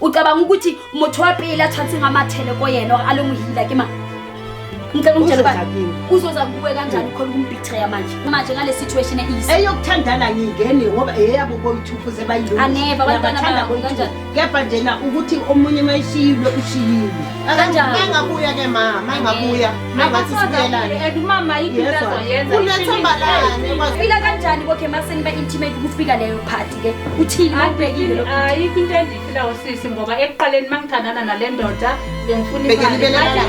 ucabanga ukuthi motho wa pele a tshwantseng a mathele ko yena or a le mohila ke mang ngicela ungitshele uba uzoza kuwe kanjani khona ukumbitreya manje manje ngale situation ease eyokuthandana ngingene ngoba eyabo boyithuphu sebayilunganeva abantwana babo kanjani kepha njena ukuthi omunye uma eshiyilwe ushiyile kanjani engabuya ke ma ma engabuya ma ngathi sibuyelane and umama yini into azoyenza unethemba lani fika kanjani kokhe maseni ba intimate ukufika leyo part ke uthini awubhekile lo ayikho into endiyifilayo sisi ngoba ekuqaleni mangithandana nale ndoda bengifuna imali